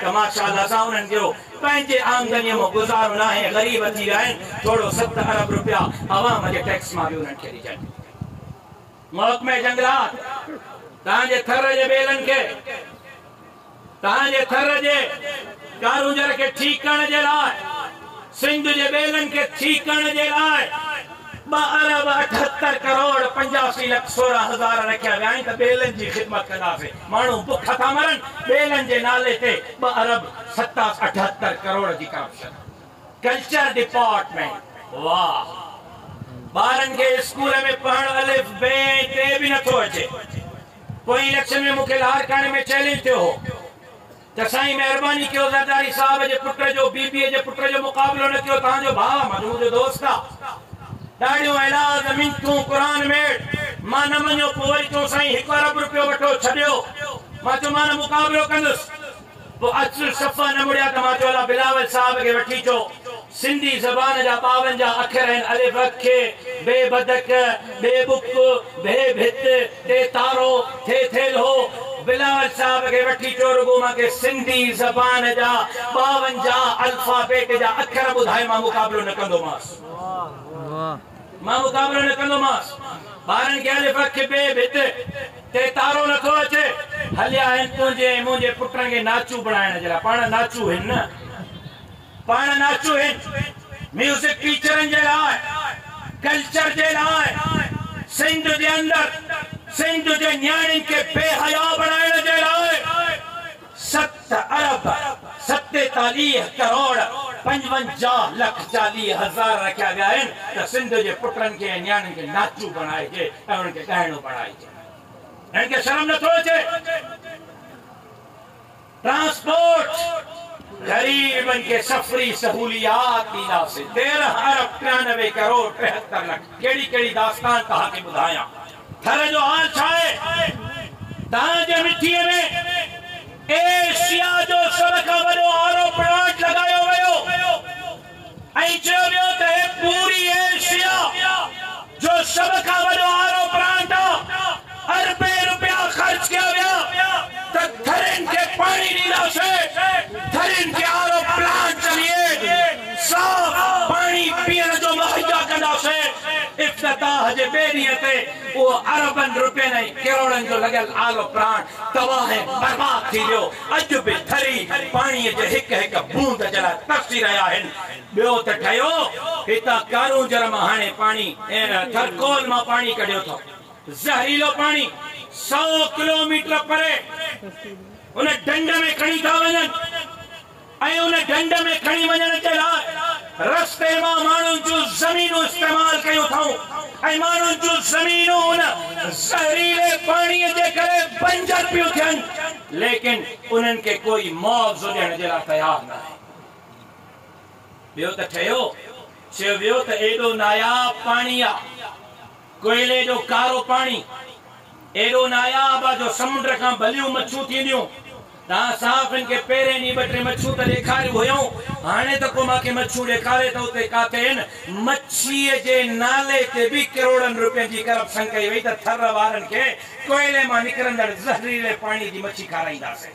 ته ماشاءالله سان انهن جو پنهنجي آمدنيء مان گذارو ناهي، غريب ٿي ويا آهن، ٿورو ست ارب روپيا عوام جي ٽيڪس مان به انهن کي ڏجن. محڪمه جنگلات توهان جي ٿر جي ٻيلن کي توهان جي ٿر جي ڪارونجهر کي ٺيڪ ڪرڻ جي لاء سنڌ جي ٻيلن کي ٺيڪ ڪرڻ جي لاء ٻه ارب اٺهتر ڪروڙ پنجاسي لک سورهن هزار رکيا ويا آهن ته ٻيلن جي خدمت ڪنداسين. ماڻهو بک ٿا مرن، ٻيلن جي نالي تي ٻه ارب ست اٺهتر ڪروڙ جي ڪرپشن، ڪلچر ڊپارٽمينٽ واه ٻارن کي اسڪول ۾ پڙهڻ الف بي ۽ ٽي به نٿو اچي، پوئين اليڪشن ۾ مون کي لاڙڪاڻي ۾ چئلينج ٿيو هو. ته سائين مهرباني ڪيو زرداري صاحب جي پٽ جو بي بي جي پٽ جو مقابلو نه ڪيو تهان جو ڀاء مجموع جو دوست آ ڏاڙهيون ايلاز منٿون قرآن ميڙ مان نه مڃيو پوء وري چئون سائين هڪ ارب رپيو وٺو ڇڏيو مان چيو مان نه مقابلو ڪندس پوء اچل صفا نه مڙيا ته مان چيو الا بلاول صاحب کي وٺي چو سنڌي زبان جا ٻاونجاهه اکر آهن الف اک، بي بدڪ، ٻي بڪ، ڀي ڀت، ٽي تارو، ٿي ٿيلهو. بلاول صاحب کي وٺي چئو رڳو مان کي سنڌي زبان جا ٻاونجاهه الفابيٽ جا اکر ٻڌائي مان مقابلو نه ڪندومانس. مان مقابلو نه ڪندومانس. ٻارن کي الف اک، بي ڀت، ٽي تارو نه ٿو اچي. هليا آهن تنهنجي ۽ منهنجي پٽن کي ناچو بڻائڻ جي لاء. پاڻ ناچو هن نه. پاڻ ناچوهين، ميوزڪ ٽيچرن جي لاء، ڪلچر جي لاء، سنڌ جي اندر سنڌ جي نياڻين کي بي حيا بڻائڻ جي لاء ست ارب ستيتاليهه ڪروڙ پنجونجاهه لک چاليهه هزار رکيا ويا آهن ته سنڌ جي پٽن کي ۽ نياڻين کي ناچو بڻائجي ۽ انهن کي ڳائڻو بڻائجي. هنن کي شرم نٿو اچي. ٽرانسپورٽ، غريبن کي سفري سهوليات ڏينداسين، تيرنهن ارب ٽيانوي ڪروڙ ٽيهتر لک، ڪهڙي ڪهڙي داستان توهان کي ٻڌايان، ٿر جو حال ڇا آهي، تان جي مٺيء ۾ ايشيا جو سڀ کان وڏو آر او پلانٽ لڳايو ويو، ائين چيو ويو ته هي پوري ايشيا جو سڀ کان وڏو آر او پلانٽ آ، اربين روپيا خرچ ڪيا ويا ته ٿرين کي پاڻي ڏينداسين، ٿرين کي آر او پلانٽ ذريعي صاف پاڻي پيئڻ جو مهيا ڪنداسين، افتتاح جي ٻئي ڏينهن تي اهو اربن روپين ۽ ڪروڙن جو لڳل آر او پلانٽ تباهه ۽ برباد ٿي ويو، اڄ به ٿري پاڻيء جي هڪ هڪ بوند جي لاء ترسي رهيا آهن. ٻيو ته ٺهيو، هتان ڪارونجهر مان هاڻي پاڻي ۽ ٿرڪول مان پاڻي ڪڍيو اٿو. زهريلو پاڻي سؤ ڪلوميٽر پري ان ڍنڍ ۾ کڻي ٿا وڃن. ۽ ان ڍنڍ ۾ کڻي وڃڻ جي لاء رستي مان ماڻهن جون زمينون استعمال ڪيون اٿائون ۽ ماڻهن جون زمينون ان زهريلي پاڻيء جي ڪري بنجر پيون ٿين، ليڪن انهن کي ڪوئي معاوضو ڏيڻ جي لاء تيار ناهي. ٻيو ته ٺهيو، چيو ويو ته ايڏو ناياب پاڻي آ. ڪوئلي جو ڪارو پاڻي ايڏو ناياب آ جو سمنڊ کان بليون مڇون ٿينديون. تان صاف هن کي پهرين ڏينهن ٻه ٽي مڇون ته ڏيکاريون هيئون، هاڻي ته ڪو مان کي مڇون ڏيکاري ته اتي ڪاٿي هن مڇيء جي نالي تي به ڪروڙن روپين جي ڪرپشن ڪئي وئي ته ٿر وارن کي ڪوئلي مان نڪرندڙ زهريلي پاڻي جي مڇي کارائينداسين.